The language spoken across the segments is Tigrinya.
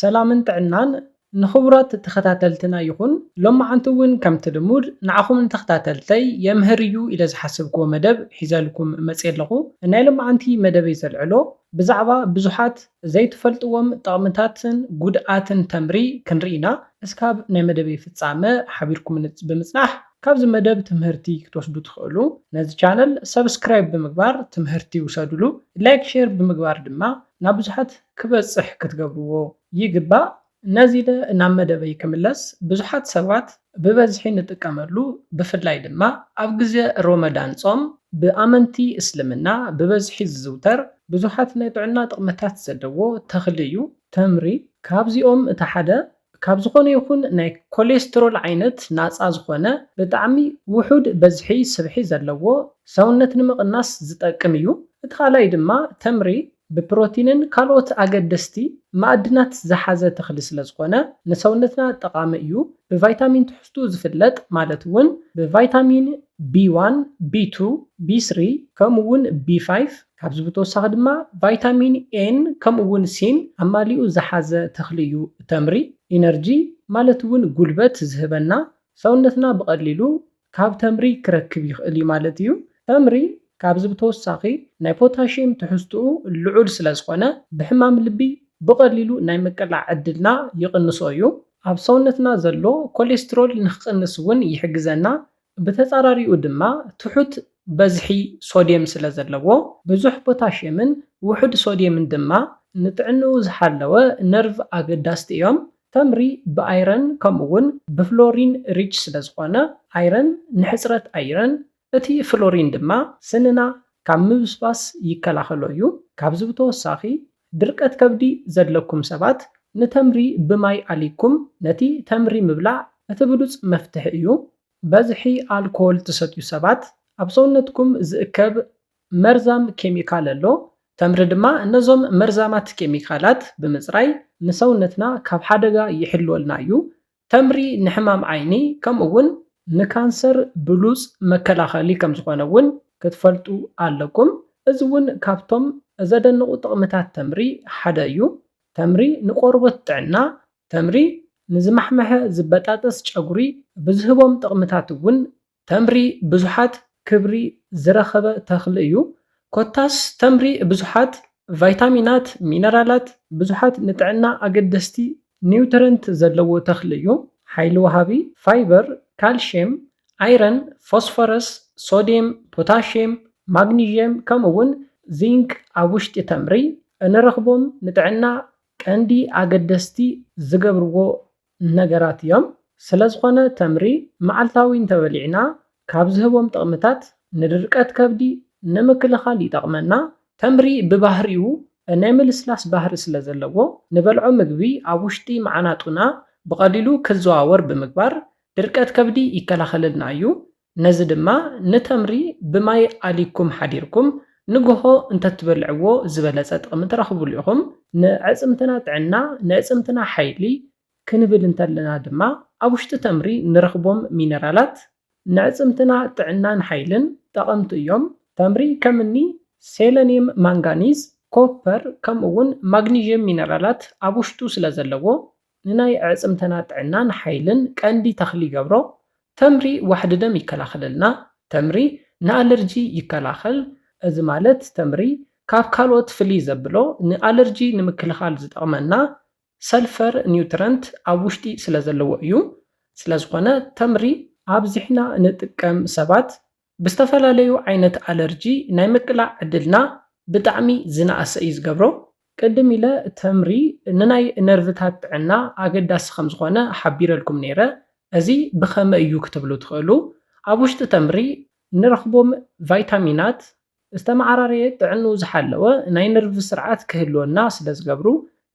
ሰላምን ጥዕናን ንኽቡራት ተኸታተልትና ይኹን። ሎማዓንቲ እውን ከምቲ ልሙድ ንዓኹም ንተኽታተልተይ የምህር እዩ ኢለ ዝሓሰብክዎ መደብ ሒዘልኩም መፅየ ኣለኹ። ናይ ሎማዓንቲ መደበይ ዘልዕሎ ብዛዕባ ብዙሓት ዘይትፈልጥዎም ጠቕምታትን ጉድኣትን ተምሪ ክንርኢ ኢና። እስካብ ናይ መደበይ ፍፃመ ሓቢርኩምኒ ብምፅናሕ ካብዚ መደብ ትምህርቲ ክትወስዱ ትኽእሉ። ነዚ ቻነል ሰብስክራይብ ብምግባር ትምህርቲ ውሰድሉ። ላይክ ሼር ብምግባር ድማ ናብ ብዙሓት ክበጽሕ ክትገብርዎ ይግባእ። ነዚለ ናብ መደበይ ክምለስ ብዙሓት ሰባት ብበዝሒ ንጥቀመሉ ብፍላይ ድማ ኣብ ግዜ ሮመዳን ጾም ብኣመንቲ እስልምና ብበዝሒ ዝዝውተር ብዙሓት ናይ ጥዕና ጥቕምታት ዘለዎ ተኽሊ እዩ ተምሪ ካብዚኦም እቲ ሓደ ካብ ዝኾነ ይኹን ናይ ኮሌስትሮል ዓይነት ናጻ ዝኾነ ብጣዕሚ ውሑድ በዝሒ ስብሒ ዘለዎ ሰውነት ንምቕናስ ዝጠቅም እዩ። እቲ ካልኣይ ድማ ተምሪ ብፕሮቲንን ካልኦት ኣገደስቲ ማኣድናት ዝሓዘ ተኽሊ ስለዝኾነ ንሰውነትና ጠቓሚ እዩ። ብቫይታሚን ትሕዝትኡ ዝፍለጥ ማለት እውን ብቫይታሚን ቢ ዋን፣ ቢ ቱ፣ ቢ ስሪ ከምኡ እውን ቢ ፋይፍ፣ ካብዚ ብተወሳኺ ድማ ቫይታሚን ኤን ከምኡ እውን ሲን ኣማሊኡ ዝሓዘ ተኽሊ እዩ። ተምሪ ኢነርጂ ማለት እውን ጉልበት ዝህበና ሰውነትና ብቐሊሉ ካብ ተምሪ ክረክብ ይኽእል እዩ ማለት እዩ። ተምሪ ካብዚ ብተወሳኺ ናይ ፖታሽየም ትሕዝትኡ ልዑል ስለዝኾነ ብሕማም ልቢ ብቐሊሉ ናይ ምቅላዕ ዕድልና ይቕንሶ እዩ። ኣብ ሰውነትና ዘሎ ኮሌስትሮል ንክቕንስ እውን ይሕግዘና። ብተጻራሪኡ ድማ ትሑት በዝሒ ሶድየም ስለ ዘለዎ፣ ብዙሕ ፖታሽየምን ውሑድ ሶድየምን ድማ ንጥዕንኡ ዝሓለወ ነርቭ ኣገዳስቲ እዮም። ተምሪ ብኣይረን ከምኡ'ውን ብፍሎሪን ሪች ስለ ዝኾነ፣ ኣይረን ንሕጽረት ኣይረን፣ እቲ ፍሎሪን ድማ ስንና ካብ ምብስባስ ይከላኸሎ እዩ። ካብዚ ብተወሳኺ ድርቀት ከብዲ ዘድለኩም ሰባት ንተምሪ ብማይ ኣሊኩም ነቲ ተምሪ ምብላዕ እቲ ብሉጽ መፍትሒ እዩ። በዝሒ ኣልኮል ትሰትዩ ሰባት ኣብ ሰውነትኩም ዝእከብ መርዛም ኬሚካል ኣሎ ተምሪ ድማ ነዞም መርዛማት ኬሚካላት ብምጽራይ ንሰውነትና ካብ ሓደጋ ይሕልወልና እዩ። ተምሪ ንሕማም ዓይኒ ከምኡ ውን ንካንሰር ብሉጽ መከላኸሊ ከም ዝኾነ ውን ክትፈልጡ ኣለኩም። እዚ ውን ካብቶም ዘደንቑ ጥቕምታት ተምሪ ሓደ እዩ። ተምሪ ንቆርቦት ጥዕና ተምሪ ንዝማሕመሐ ዝበጣጠስ ጨጉሪ ብዝህቦም ጥቕምታት ውን ተምሪ ብዙሓት ክብሪ ዝረኸበ ተኽሊ እዩ። ኮታስ ተምሪ ብዙሓት ቫይታሚናት፣ ሚነራላት፣ ብዙሓት ንጥዕና ኣገደስቲ ኒውትረንት ዘለዎ ተኽሊ እዩ። ሓይሊ ወሃቢ፣ ፋይበር፣ ካልሽየም፣ ኣይረን፣ ፎስፎረስ፣ ሶድየም፣ ፖታሽየም፣ ማግኒዥየም ከምኡ እውን ዚንክ ኣብ ውሽጢ ተምሪ እንረኽቦም ንጥዕና ቀንዲ ኣገደስቲ ዝገብርዎ ነገራት እዮም። ስለዝኾነ ተምሪ መዓልታዊ እንተበሊዕና ካብ ዝህቦም ጥቕምታት ንድርቀት ከብዲ ንምክልኻል ይጠቕመና። ተምሪ ብባህሪኡ ናይ ምልስላስ ባህሪ ስለዘለዎ ንበልዖ ምግቢ ኣብ ውሽጢ መዓናጡና ብቐሊሉ ክዘዋወር ብምግባር ድርቀት ከብዲ ይከላኸለልና እዩ። ነዚ ድማ ንተምሪ ብማይ ኣሊኩም ሓዲርኩም ንጎሆ እንተትበልዕዎ ዝበለጸ ጥቅሚ ትረኽብሉ ኢኹም። ንኣዕጽምትና ጥዕና ንእጽምትና ሓይሊ ክንብል እንተለና ድማ ኣብ ውሽጢ ተምሪ ንረኽቦም ሚነራላት ንዕጽምትና ጥዕናን ሓይልን ጠቐምቲ እዮም። ተምሪ ከም እኒ ሴለንየም ማንጋኒዝ ኮፐር ከምኡ እውን ማግኒዥየም ሚነራላት ኣብ ውሽጡ ስለዘለዎ ንናይ ኣዕፅምተና ጥዕናን ሓይልን ቀንዲ ተኽሊ ይገብሮ። ተምሪ ዋሕዲ ደም ይከላኸለልና። ተምሪ ንኣለርጂ ይከላኸል። እዚ ማለት ተምሪ ካብ ካልኦት ፍልይ ዘብሎ ንኣለርጂ ንምክልኻል ዝጠቕመና ሰልፈር ኒውትረንት ኣብ ውሽጢ ስለዘለዎ እዩ። ስለዝኾነ ተምሪ ኣብዚሕና ንጥቀም ሰባት ብዝተፈላለዩ ዓይነት ኣለርጂ ናይ ምቅላዕ ዕድልና ብጣዕሚ ዝነኣሰ እዩ ዝገብሮ። ቅድም ኢለ ተምሪ ንናይ ነርቭታት ጥዕና ኣገዳሲ ከምዝኾነ ሓቢረልኩም ነይረ። እዚ ብኸመይ እዩ ክትብሉ ትኽእሉ፣ ኣብ ውሽጢ ተምሪ ንረኽቦም ቫይታሚናት ዝተመዓራረየ ጥዕንኡ ዝሓለወ ናይ ነርቭ ስርዓት ክህልወና ስለ ዝገብሩ፣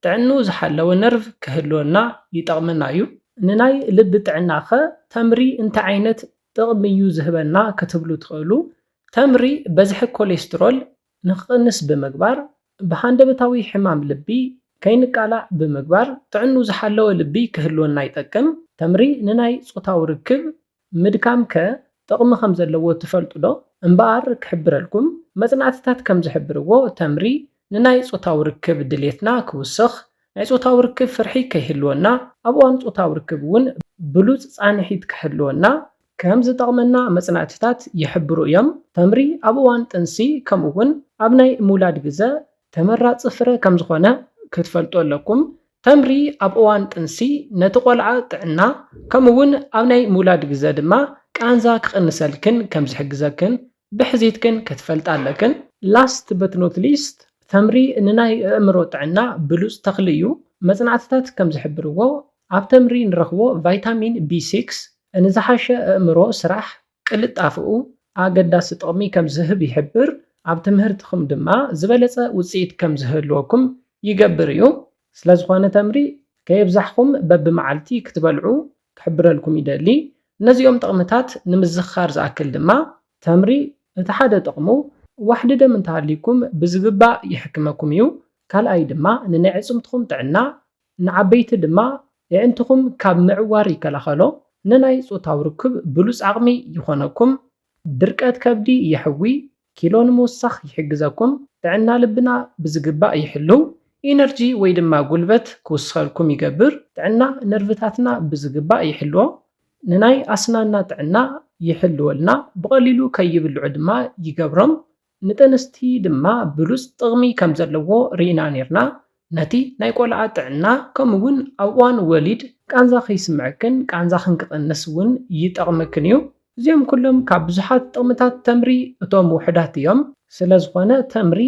ጥዕንኡ ዝሓለወ ነርቭ ክህልወና ይጠቕመና እዩ። ንናይ ልቢ ጥዕና'ኸ ተምሪ እንታይ ዓይነት ጥቕሚ'ዩ ዝህበና ክትብሉ ትኽእሉ። ተምሪ በዝሒ ኮሌስትሮል ንክቕንስ ብምግባር፣ ብሃንደበታዊ ሕማም ልቢ ከይንቃላዕ ብምግባር ጥዕንኡ ዝሓለወ ልቢ ክህልወና ይጠቅም። ተምሪ ንናይ ጾታዊ ርክብ ምድካም ከ ጥቕሚ ከም ዘለዎ ትፈልጡ ዶ? እምበኣር ክሕብረልኩም፣ መጽናዕትታት ከም ዝሕብርዎ ተምሪ ንናይ ጾታዊ ርክብ ድሌትና ክውስኽ፣ ናይ ጾታዊ ርክብ ፍርሒ ከይህልወና፣ ኣብ እዋን ጾታዊ ርክብ እውን ብሉጽ ጻንሒት ክሕልወና፣ ከም ዝጠቕመና መጽናዕትታት ይሕብሩ እዮም። ተምሪ ኣብ እዋን ጥንሲ ከምኡውን ኣብ ናይ ምውላድ ግዘ ተመራጺ ፍረ ከም ዝኾነ ክትፈልጡ ኣለኩም። ተምሪ ኣብ እዋን ጥንሲ ነቲ ቆልዓ ጥዕና ከምኡ'ውን ኣብ ናይ ምውላድ ግዘ ድማ ቃንዛ ክቕንሰልክን ከም ዝሕግዘክን ብሕዚትክን ክትፈልጣ ኣለክን። ላስት በት ኖት ሊስት ተምሪ ንናይ እእምሮ ጥዕና ብሉጽ ተኽሊ እዩ። መጽናዕትታት ከም ዝሕብርዎ ኣብ ተምሪ ንረኽቦ ቫይታሚን ቢ ሲክስ ንዝሓሸ እእምሮ ስራሕ ቅልጣፈኡ ኣገዳሲ ጥቕሚ ከም ዝህብ ይሕብር፣ ኣብ ትምህርትኹም ድማ ዝበለጸ ውጽኢት ከም ዝህልወኩም ይገብር እዩ። ስለዝኾነ ተምሪ ከየብዛሕኹም በብመዓልቲ ክትበልዑ ክሕብረልኩም ይደሊ። ነዚኦም ጥቕምታት ንምዝኽኻር ዝኣክል ድማ። ተምሪ እቲ ሓደ ጥቕሙ ዋሕዲ ደም እንተሃልዩኩም ብዝግባእ ይሕክመኩም እዩ። ካልኣይ ድማ ንናይ ኣዕጽምትኹም ጥዕና ንዓበይቲ ድማ የዒንትኹም ካብ ምዕዋር ይከላኸሎ፣ ንናይ ጾታዊ ርክብ ብሉጽ ዓቕሚ ይኾነኩም፣ ድርቀት ከብዲ የሕዊ፣ ኪሎ ንምውሳኽ ይሕግዘኩም፣ ጥዕና ልብና ብዝግባእ ይሕልው፣ ኢነርጂ ወይ ድማ ጉልበት ክውስኸልኩም ይገብር፣ ጥዕና ነርቭታትና ብዝግባእ ይሕልዎ፣ ንናይ ኣስናንና ጥዕና ይሕልወልና፣ ብቐሊሉ ከይብልዑ ድማ ይገብሮም፣ ንጥንስቲ ድማ ብሉጽ ጥቕሚ ከም ዘለዎ ርኢና ኔርና፣ ነቲ ናይ ቆልዓ ጥዕና ከምኡ ውን ኣብ እዋን ወሊድ ቃንዛ ከይስምዐክን ቃንዛኽን ክቕንስ ውን ይጠቕመክን እዩ። እዚኦም ኩሎም ካብ ብዙሓት ጥቕምታት ተምሪ እቶም ውሑዳት እዮም። ስለዝኾነ ተምሪ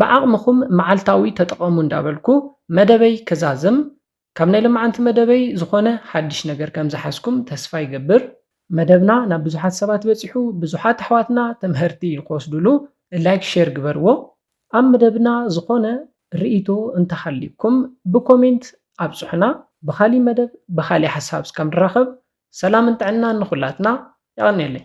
ብዓቕምኹም መዓልታዊ ተጠቐሙ እንዳበልኩ መደበይ ክዛዝም፣ ካብ ናይ ለማዓንቲ መደበይ ዝኾነ ሓድሽ ነገር ከም ዝሓዝኩም ተስፋ ይገብር። መደብና ናብ ብዙሓት ሰባት በጺሑ ብዙሓት ኣሕዋትና ትምሀርቲ ንክወስድሉ ላይክ ሼር ግበርዎ። ኣብ መደብና ዝኾነ ሪኢቶ እንተሃልዩኩም ብኮሜንት ኣብጹሑና። ብኻሊእ መደብ ብኻሊእ ሓሳብ እስካብ ንራኸብ ሰላምን ጥዕናን ንኹላትና። የቐንየለይ።